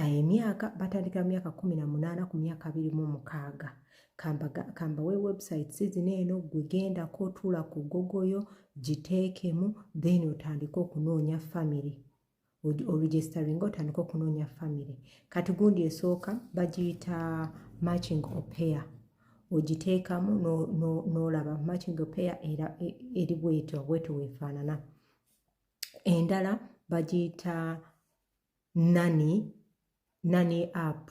eh, emyaka batandikira mu myaka kumi na munaana ku myaka abiri mu mukaaga kamba we website sizina eno gwegendako otuula ku gogoyo giteekemu then otandike okunoonya family oregistering otandika okunoonya family kati gundi esooka bagiyita matching opair ogiteekamu n'olaba matching opair era e, eri bwetyo bwetyo weefaanana endala bagiyita nani nani app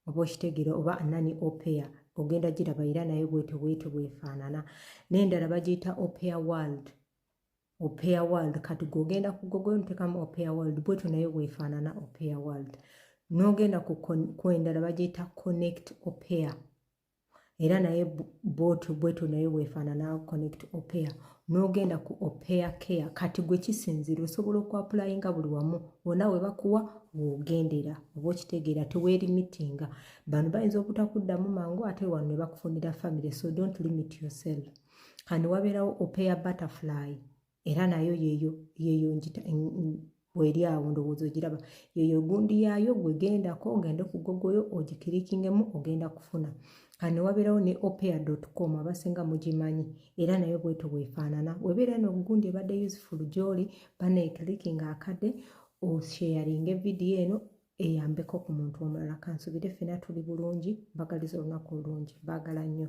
oba okitegera oba nani opea ogenda giraba era naye bwete bwete bwefaanana nendala bagiyita opea world opea world kati gogenda ku gogo ntekamu opea world bwetyo naye bwefaanana opea world nogenda ku endala bagiyita connect opea era naye bwotyo bwetyo naye weefaanana connect opea n'ogenda ku opea care kati gwe kisinziira osobola okuapulayinga buli wamu wona we bakuwa wogendera oba okitegeera teweerimitinga bano bayinza obutakuddamu mangu ate wano ne bakufunira family so don't limit yourself kani wabeerawo opea butterfly era nayo yeyo yeyo njita weri awo ndowooza ogiraba yeyo gundi yaayo gwegendako ogende ku gogoyo ogikirikingemu ogenda kufuna kane wabeerawo ne opea com abasinga mugimanyi era nayo bweto bwefaanana webeera no gundi ebadde useful gyoli banekirikinga akade osheyaringe vidiyo eno eyambeko ku muntu omulala kansubire fena tuli bulungi mbagaliza olunaku olungi baagala nnyo